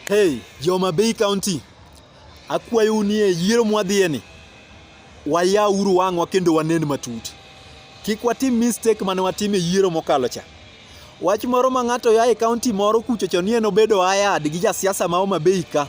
Hey, Joma Bay County, akwayou ni e yiero mwadhiyeni wayauru wang'wa kendo wanen matut. Kik watim mistake mane watim e yiero mokalo cha. Wach moro ma ng'ato ya e kaunti moro kuchocho ni en obedo ayad gi jasiasa ma Homa Bay ka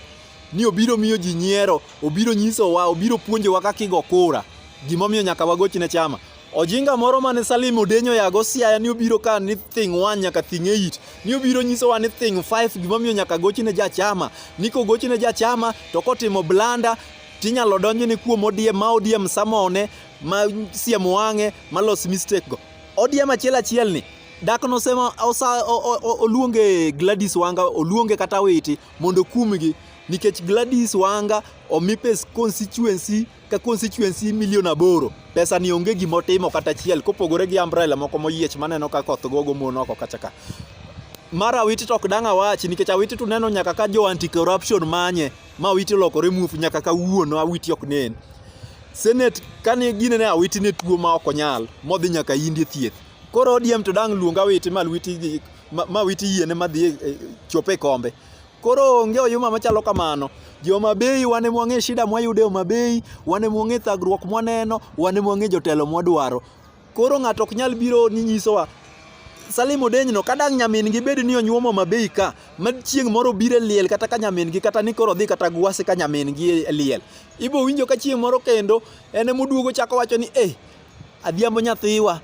ni obiro miyo ji nyiero, obiro nyisowa, obiro puonjowa kaka igo kura, gimomiyo nyaka wagochne chama. Ojinga moro mane Salim Odenyo yago Siaya ni obiro ka ni thing 1 nyaka thing 8 ni obiro nyiso wa ni thing 5 gima miyo nyaka gochi ne jachama ni kogochi ne jachama to kotimo blanda tinyalo donjo ni kuom odiem ma odiem samone ma siem wang'e ma los mistake go odiem achiel achiel ni dak nosema osa oluonge Gladys Wanga oluonge kata witi mondo kumgi nikech Gladys Wanga omipe constituency ka constituency milion aboro pesa ni onge gima otimo kata achiel kopogore gi umbrella moko moyiech maneno ka koth gogo mon oko kacha ka mar awiti to ok dang' awachi nikech awiti to neno nyaka ka jo anti corruption manye ma awiti olokore muofu nyaka ka wuono awiti ok nen senate kane gine ne awiti ne tuo ma ok onyal modhi nyaka indi thieth koro odiem to dang' luong awiti ma awiti yiene madhi e, e, chope kombe Koro onge oyuma machalo kamano. Joma bei wane mwang'e shida mwayude Homa Bay, wane mwang'e thagruok mwaneno, wane mwang'e jotelo mwadwaro. Koro ng'ato ok nyal biro ni nyisowa Salim Odenyno kadang' nyamin gi bed ni onyuomo Homa Bay ka, ma chieng' moro bire liel kata ka nyamin gi kata ni koro dhi kata gwase ka nyamin gi e liel. Ibo winjo ka chieng' moro kendo en emoduogo chako wacho ni eh Adhiambo nyathiwa,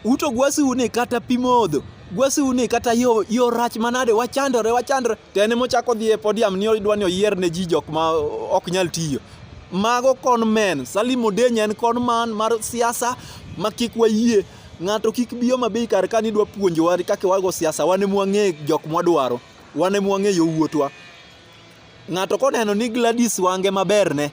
uto gwasiu ni kata pi modho gwasiu ni kata yo, yo rach manade wachandore wachandore to en emochako dhi e podium ni odwa ni oyier ne ji jok ma ok nyal tiyo mago kon men Salim Odenya en kon man mar siasa ma kik wayie ng'ato kik biyo mabe kar ka ni dwa puonjowa kaka wago siasa wan e mwang'e jok mwadwaro wan e mwang'e yo wuotwa ng'ato koneno ni Gladys wange maberne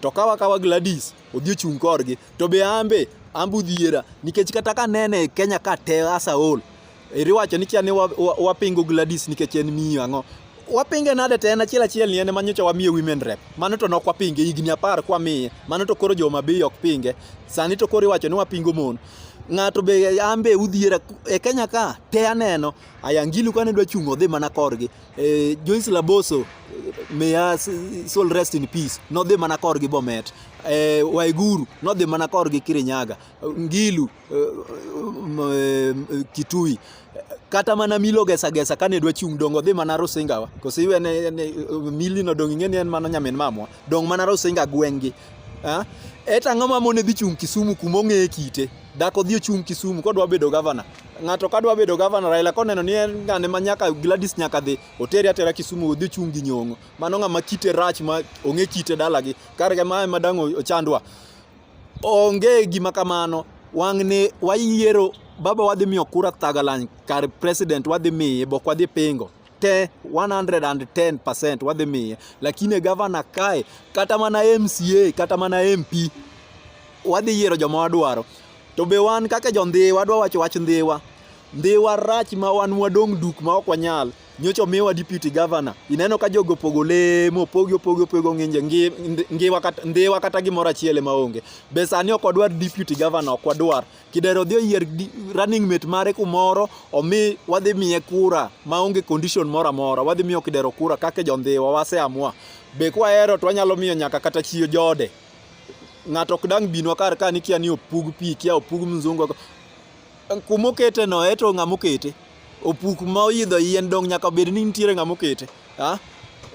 to kawa kawa Gladys odhi ochung' korgi to be ambe ambe udhiera nikech kata ka nene Kenya ka te asa ol iriwacho ni kia ni wapingo Gladys nikech en miyo ang'o wapinge nade te en achiel achiel ni en ma nyocha wamiye women rep mano to nok wapinge higni apar kwamiye mano to koro joma bei ok pinge sani to koro iwacho ni wapingo mon ng'ato be ambe udhiera e Kenya ka te aneno ayangilu kane dwa chung' odhi mana korgi eh, Joyce Laboso may her soul rest in peace nodhi mana korgi Bomet eh, Waiguru nodhi mana korgi Kirinyaga Ngilu eh, eh, Kitui kata mana milo gesa gesa kane dwa chung dongo dhi mana Rusinga wa kosi iwe ne, ne mili no dong ing'e ni en mana nyamin mamwa dong mana Rusinga gwengi eh? et ang'o ma mone dhi chung Kisumu kuma ong'eye kite Dhako dhi ochung' Kisumu kodwa bedo gavana. Ng'ato kadwa bedo gavana Raila koneno ni en ng'ane ma nyaka Gladys nyaka dhi otere atera Kisumu odhi ochung' gi nyong'o. Mano ng'ama kite rach ma ong'e kite dalagi. Kar ma ema dang' ochandwa. Onge gima kamano. Wang'ne wayiero baba wadhi miyo kura Thagalan kar president wadhi miye bok wadhi pingo. te 110% wadhi miye, lakini gavana kae kata mana MCA kata mana MP wadhi yiero joma wadwaro. To be wan kaka jo Ndhiwa wadwa wacho wach Ndhiwa. Ndhiwa rach ma wan wadong' duk ma ok wanyal. Nyocha omiwa deputy governor. Ineno ka jogo pogo lemo, opogi opogi opogo ng'inje Ndhiwa kata Ndhiwa kata gimoro achiel ema onge. Be sani ok wadwar deputy governor ok wadwar. Kidero odhi oyier running mate mare kumoro omi wadhi miye kura maonge condition moro amora. Wadhi miyo Kidero kura kaka jondhiwa waseamua. Be kwahero to wanyalo miyo nyaka kata chiyo jode. Ng'ato ok dang' binwa kar ka nikia ni opug pi, kia opug mzungu. Kuma okete no eto ng'ama okete. Opuk ma oidho yien dong' nyaka bed ni nitiere ng'ama okete. Ah,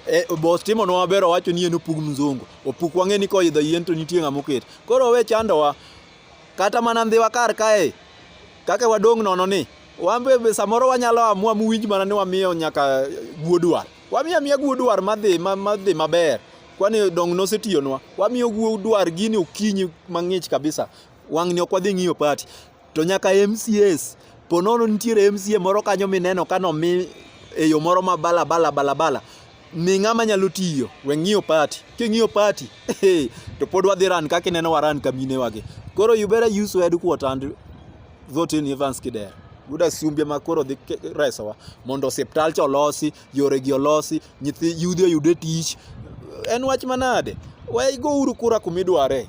e, boss timo nwa maber owacho ni en opug mzungu. Opuk wang'e ni koidho yien to nitie ng'ama okete. Koro owe chandowa. Kata mana ndhiwa kar kae, kaka wadong' nono ni, wan be samoro wanyalo amua muwinj mana ni wamiyo nyaka guodwar. Wamiyo amiya guodwar madhi madhi maber. Kwani dong' nosetiyonwa. Wamiyo guodwar gini okinyi mang'ich kabisa. Wang'ni ok wadhi ng'iyo pati. To nyaka MCS, po nono nitiere MCA moro kanyo mineno kano mi e yo moro ma bala bala bala bala. ni ng'ama nyalo tiyo we ng'iyo party king'iyo party to pod wadhi ran kaka ineno waran kamine wage koro you better use your headquarter and vote in Evans Kidero yuda sumbia ma koro dhi resowa mondo osiptal cha olosi yore gi olosi nyithi yudhi oyude tich en wach manade we go uru kura kumidware